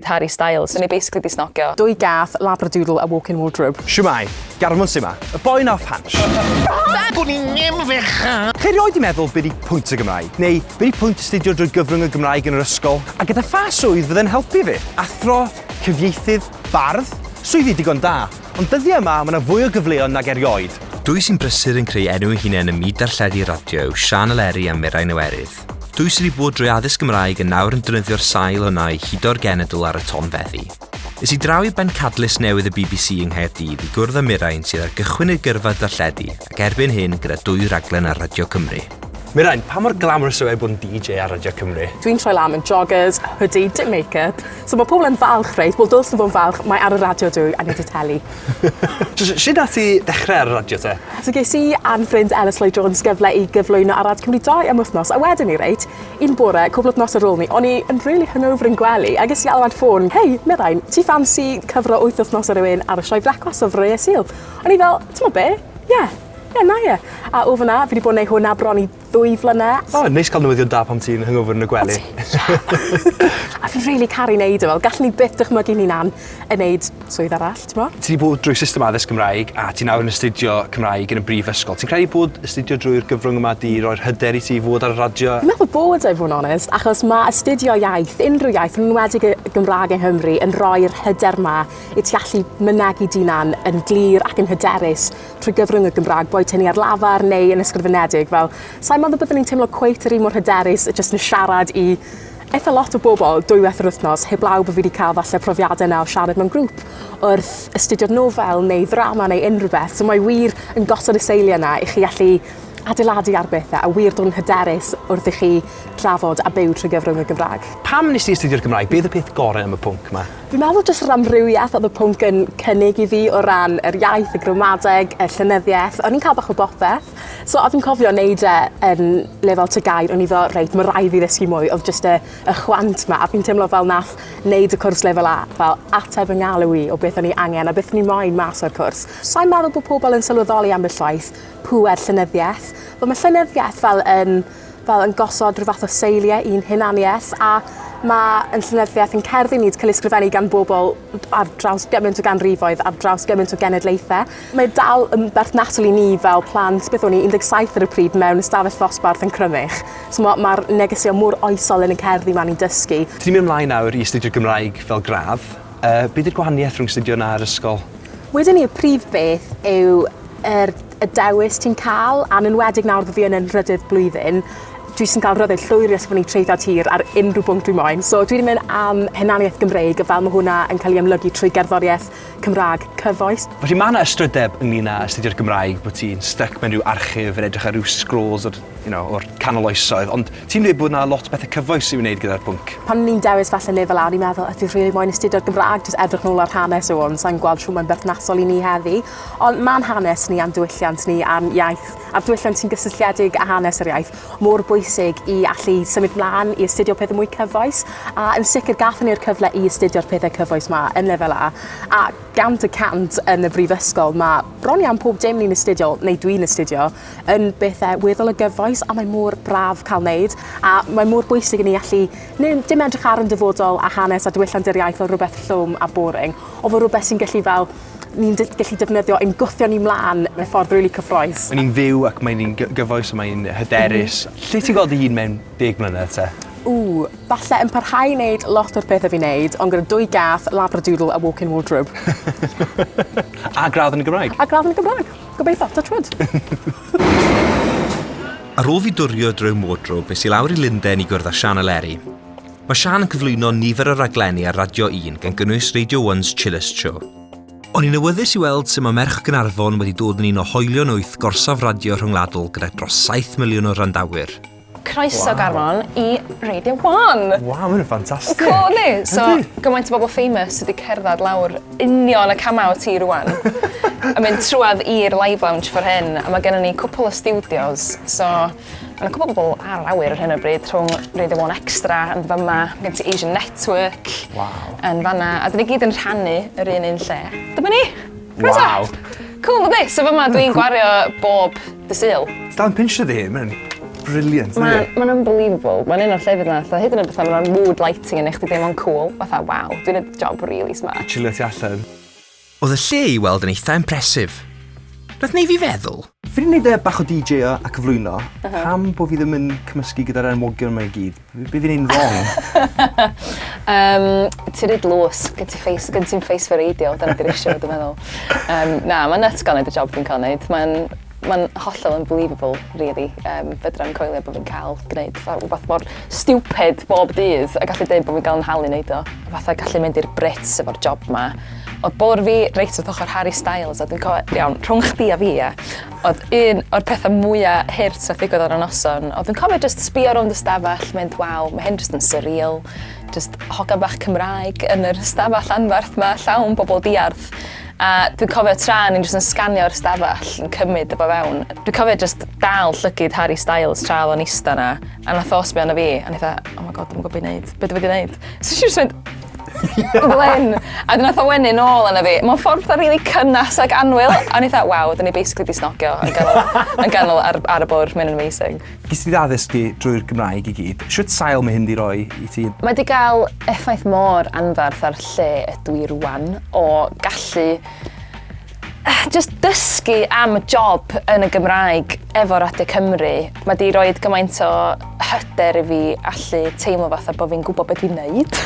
Harry Styles. O'n i basically 'di snogio. Dwy gath, labradoodle a walk-in wardrobe. Shwmae! Garmon su' 'ma? Y boi 'na off hansh. Gwn i ddim fechan! Chi erioed 'di meddwl be' 'di pwynt y Gymraeg? Neu be' 'di pwynt astudio drwy gyfrwng y Gymraeg yn yr ysgol? A gyda pha swydd fydde'n helpu fi? Athro? Cyfieithydd? Bardd? Swyddi digon da. Ond dyddia' yma ma' 'na fwy o gyfleon nag erioed. Dwy sy'n brysur yn creu enw eu hunain ym myd darlledu radio yw Siân Eleri a Mirain Iwerydd. Dwi sydd wedi bod drwy addysg Gymraeg yn nawr yn defnyddio'r sail hwnna i hudo'r genedl ar y tonfeddi. Is i draw i bencadlys newydd y bbc yng Nghaerdydd i gwrdd â Mirain sydd ar gychwyn ei gyrfa darlledu ac erbyn hyn gyda dwy raglen ar Radio Cymru. Mirain, pa mor glamorous yw e bod yn DJ ar Radio Cymru? Dwi'n troi lan yn joggers, hoodie, dim make-up. So mae pobl yn falch, reit? Wel, dylsyn nhw fod yn falch, mae ar y radio dwi, a nid y teli. Shwd nath ti ddechre ar y radio te? So ges i a'n ffrind Elis Lloyd Jones gyfle i gyflwyno ar Rad Cymru dau am wythnos a wedon ni reit, un bore, cwpl wythnos ar ôl ni, o'n i yn rili hungover yn gwely a ges i alwad ffôn, hei, Mirain, ti ffansi cyfro wyth wythnos â rywun ar y sioe Frecwast o Froeau Sul? O'n i fel, t'mod be', ie, ie, 'na ie. A o fan'na fi 'di bod yn neu' hwn a bron i ddwy flynedd. O neis ca'l newyddion da pan ti'n hungover yn y gwely. A fi rili caru neud e fel gallwn i byth dychmygu ni'n hunan yn neud swydd arall t'mo'? Ti 'di bod drwy system addysg Gymraeg a ti nawr yn astudio Cymraeg yn y brifysgol ti'n credu bod astudio drwy'r gyfrwng yma 'di roi'r hyder i ti i fod ar y radio? Fi'n meddwl bod e i fod yn onest achos ma' astudio iaith, unrhyw iaith yn enwedig y Gymraeg yng Nghymru yn rhoi'r hyder 'ma i ti allu mynegi dy 'unan yn glir ac yn hyderus trwy gyfrwng y Gymraeg, boed hynny ar lafar neu yn ysgrifenedig, fel, sa'n meddwl byddwn ni'n teimlo cweit yr un mor hyderus y jyst yn siarad i eitha lot o bobl dwywaith yr wythnos, heblaw bod fi wedi cael falle profiadau yna o siarad mewn grŵp wrth astudio'r nofel neu ddrama neu unrhyw beth. So mae wir yn gosod y seiliau yna i chi allu adeiladu ar bethau a wir dod yn hyderus wrth i chi drafod a byw trwy gyfrwng y Gymraeg. Pam nes ti astudio'r Gymraeg? Be oedd y peth gorau am y pwnc 'ma? Fi'n meddwl jyst yr amrywieth odd y pwnc yn cynnig i fi o ran yr iaith y gramadeg y llenyddieth o'n i'n ca'l bach o bopeth. So a fi'n cofio neud e yn lefel ty gair o'n i fel reit ma' rai' fi ddysgu mwy odd jyst y y chwant 'ma a fi'n teimlo fel nath neud y cwrs lefel A fel ateb fy ngalw i o beth o'n i angen a beth o'n i moyn mas o'r cwrs. Sai'n meddwl bo' pobol yn sylweddoli ambell waith pŵer llenyddieth. Wel ma' llenyddieth fel yn fel yn gosod rhyw fath o seiliau i'n hunaniaeth a ma' ein llenyddiaeth ein cerddi ni'n ca'l ei sgrifennu gan bobol ar draws gyment o ganrifoedd ar draws gyment o genedlaethe. Mae dal yn berthnasol i ni fel plant beth o'n i un deg saith ar y pryd mewn ystafell ddosbarth yn Crymych. So ma' ma'r negeseuon mor oesol yn y cerddi 'ma ni'n dysgu. Ti'n mynd mlaen nawr i astudio Gymraeg fel gradd. Yy be' 'di'r gwahaniaeth rhwng astudio 'na a'r ysgol? Wedwn i y prif beth yw Yr y dewis ti'n ca'l, a'n enwedig nawr bo' fi yn 'yn nhrydydd blwyddyn, dwi jys yn ca'l rhyddid llwyr i esbonnu traethawd hir ar unrhyw bwnc dwi moyn. So dwi 'di myn' am hunaniaeth Gymreig a fel ma' hwnna yn ca'l 'i amlygu trwy gerddorieth Cymra'g cyfoes. Felly ma' 'na ystrydeb ynglŷn â astudio'r Gymraeg bo' ti'n styc mewn ryw archif yn edrych ar ryw sgrôls o'r you know o'r canol oesoedd ond ti'n dweud bod 'na lot pethe cyfoes i'w wneud gyda'r pwnc. Pan o'n i'n dewis falle lefel A o'n i'n meddwl o dwi rili moyn astudio'r Gymra'g jys edrych nôl ar hanes o ond sai'n gweld shw mae'n berthnasol i ni heddi. Ond mae'n hanes ni a'n diwylliant ni a'n iaith, a'r diwylliant sy'n gysylltiedig â hanes yr iaith, mor bwysig i allu symud mlaen, i astudio pethau mwy cyfoes, a yn sicr gathon ni'r cyfle i astudio'r pethau cyfoes ma yn lefel A, a gant y cant yn y brifysgol ma bron iawn pob dim ni'n astudio, neu dwi'n astudio, yn bethau weddol o gyfoes a mae mor braf cael wneud, a mae mor bwysig i ni allu neud dim edrych ar yn dyfodol a hanes a diwylliant yr iaith fel rhywbeth llwm a boring, o fel rhywbeth sy'n gallu fel ni'n de- gellu defnyddio ein gwthio ni mlan mewn ffordd rili cyffrous. Mae'n un fyw ac mae'n un gy- gyfoes a mae'n hyderus. M-hm. Lle ti'n gweld dy hun mewn deg mlynedd te? Ww, falle yn parhau i neud lot o'r pethe fi'n neud ond gyda dwy gath, labradoodle a walk-in wardrobe. A gradd yn y Gymraeg. A gradd yn y Gymraeg. Gobeitho. Touch wood. Ar ôl fi dwrio drwy'm wardrobe es i lawr i Lunden i gwrdd â Sian a Leri. Mae Siân yn cyflwyno nifer o raglenni ar Radio Yn gan gynnwys Radio One's Chillest Show. O'n i'n awyddus i weld sut mae merch Gaernarfon wedi dod yn un o hoelion wyth gorsaf radio rhyngwladol gyda dros 7 miliwn o wrandawyr. Croeso wow. Garmon i Radio One! Wow, mae'n ffantastig! Cool, ni! So, gymaint o bobl famous sydd wedi cerdded lawr union y camau o ti rwan. a mynd trwad i'r live lounge for hyn, a mae gennym ni cwpl o studios, so Mae 'na cwpwl o bobl ar yr awyr ar hyn o bryd rhwng Radio One Extra yn fama, gen ti Asian Network... Waw. ...yn fanna a 'dyn ni gyd yn rhannu yr un un lle. Dyma ni! Croeso! Waw! Cŵl yndi? So fama dwi'n gwario bob Dydd Sul. Dal yn pincio dy hun, mae'n brilliant yndi? Mae mae'n unbelievable. Mae'n un o'r llefydd 'na fatha hyd yn oed fatha ma' 'na mood lighting yn neu' chdi deimlo'n cŵl fatha waw dwi'n neud job rili smart. Chilio tu allan. Oedd y lle i weld yn eitha impressive. Nath neu fi feddwl. Fi 'di neud e bach o DJo a cyflwyno. Pam bo fi ddim yn cymysgu gyda'r enwogion 'ma i gyd? Be' be' fi'n neud yn rong? Yym ti ry dlws. Gen ti face gen ti'm face for radio dyna di'r issue dwi meddwl. Yym na ma'n nyts ga'l neud y job dwi'n ca'l neud ma'n Mae'n hollol unbelievable rili. Yym fedrai'm coelio bod fi'n cael gwneud fatha rhywbeth mor stupid bob dydd a gallu deud bod fi'n cael 'y nhalu neud o. Fatha gallu mynd i'r Brits efo'r job 'ma. O'dd bwrdd fi reit wrth ochor Harry Styles a dwi'n cofio... Iawn, rhwng chdi a fi ia, o'dd un o'r petha mwya hurt nath ddigwydd ar y noson o'dd dwi'n cofio jyst sbïo rownd y stafell mynd waw ma' hyn jyst yn surreal jyst hogan bach Cymraeg yn yr stafell anferth 'ma llawn bobol diarth A dwi'n cofio tra o'n i'n jyst yn sganio'r stafell yn cymryd y bo fewn, dwi'n cofio jyst dal llygyd Harry Styles tra oedd o'n ista yna, a nath o sbio arno fi, a o'n i fatha, oh my god, dwi'm yn gwybod be i wneud, be dwi wedi wneud? So nes i jyst mynd Glyn! A wedyn nath o wenu nôl arno fi, mewn ffordd fatha rili cynnes ac annwyl, a o'n i fatha, waw, 'dyn ni basically 'di snogio yn ganol yn ganol ar ar y bwrdd, mae'n amazing. Ges ti dy addysgu drwy'r Gymraeg i gyd. Shwt sail mae hyn 'di roi i ti? Mae 'di gael effaith mor anferth ar lle ydw i rwan, o gallu jyst dysgu am y job yn y Gymraeg efo Radio Cymru. Mae 'di roid gymaint o hyder i fi allu teimlo fatha bo' fi'n gwbo be' dwi'n neud.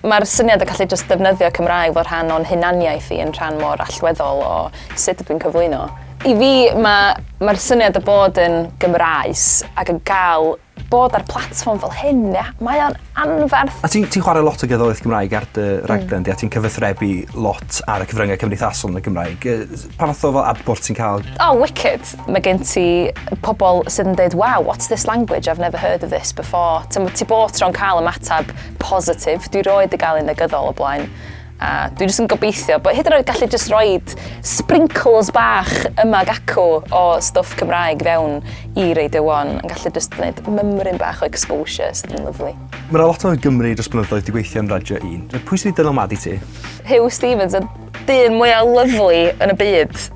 Ma'r syniad o gallu jyst defnyddio Cymraeg fel rhan o'n hunaniaeth i yn rhan mor allweddol o sut ydw i'n cyflwyno. I fi, mae, mae'r syniad o bod yn Gymraes ac yn cael bod ar platfform fel hyn, ia, mae o'n anferth. A ti'n ti chwarae lot o gerddoriaeth Gymraeg ar dy hmm. raglen mm. di, a ti'n cyfathrebu lot ar y cyfryngau cymdeithasol yn y Gymraeg. Pa fath o fel adbwrt ti'n cael? Oh, wicked! Mae gen ti pobl sydd yn dweud, wow, what's this language? I've never heard of this before. Ti'n ti bod tro'n cael ymateb positif. Dwi roed i gael ei negyddol o blaen. A dwi jyst yn gobeithio bod hyd yn oed gallu jyst roed sprinkles bach yma ac acw o stwff Cymraeg fewn i Radio 1 yn gallu jyst gwneud mymryn bach o exposure sydd yn lyflu. Mae yna lot o Gymry dros blynyddoedd di gweithio yn Radio 1. Pwy sydd wedi dylanwadu ti? Huw Stephens, y dyn mwyaf lyflu yn y byd.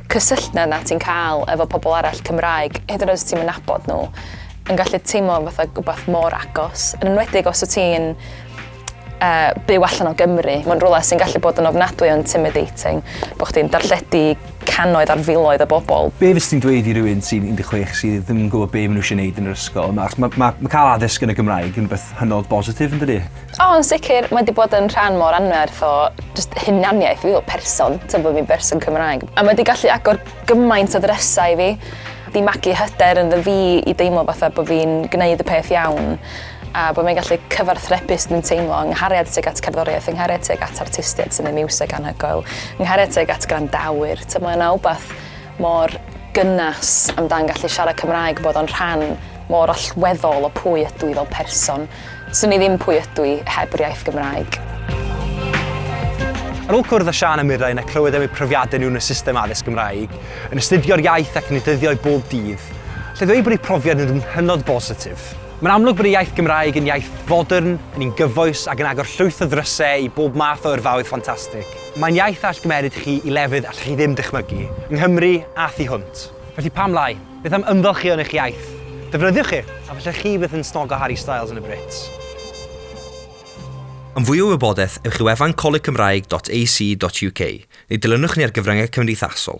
cysylltiad 'na ti'n cael efo pobl arall Cymraeg, hyd yn oed os ti'm yn nabod nhw, yn gallu teimlo fatha rhywbeth mor agos, yn enwedig os wyt ti'n uh, byw allan o Gymru. Mae'n rhywle sy'n gallu bod yn ofnadwy o intimidating, bod chdi'n darlledu cannoedd ar filoedd o bobl. Be fes ti'n dweud i rywun sy'n 16 sydd ddim yn gwybod be maen nhw eisiau gwneud yn yr ysgol? Mae ma, ma, ma cael addysg yn y Gymraeg yn rhywbeth hynod bositif yn dydy? O yn sicr, mae 'di bod yn rhan mor anferth o jyst hunaniaeth fi fel person, t'o' bo' fi'n berson Cymraeg. A mae 'di gallu agor gymaint o ddrysau i fi, 'di magu hyder ynddo fi i deimlo fatha bo' fi'n gneud y peth iawn, a bo' fi'n gallu cyfarthrebu sut dwi'n teimlo, 'y nghariad tuag at cerddoriaeth, 'y nghariad tuag at artistied sy'n neud miwsig anhygoel, 'y nghariad tuag at gwrandawyr, t'o' mae yna wbath mor gynas amdan gallu siarad Cymraeg, bod o'n rhan mor allweddol o pwy ydw i fel person. Swn i ddim pwy ydw i heb yr iaith Gymraeg. Ar ôl cwrdd â Siân a Mirain a clywed am eu profiadau nhw yn y system addysg Gymraeg, yn astudio'r iaith ac yn ei dyddio i bob dydd, alla i ddweud bod eu profiad nhw yn hynod bositif. Mae'n amlwg bod y iaith Gymraeg yn iaith fodern, yn un gyfoes ac yn agor llwyth o ddrysau i bob math o yrfaoedd ffantastig. Mae'n iaith all gymeryd chi i lefydd allwch chi ddim dychmygu, yng Nghymru a thu hwnt. Felly pam lai? Beth am ymfalchïo yn eich iaith? Defnyddiwch e, a falle chi fydd yn snogo Harry Styles yn y Brits. Am fwy o wybodaeth, ewch i wefan colegcymraeg.ac.uk, neu dilynwch ni ar gyfryngau cymdeithasol.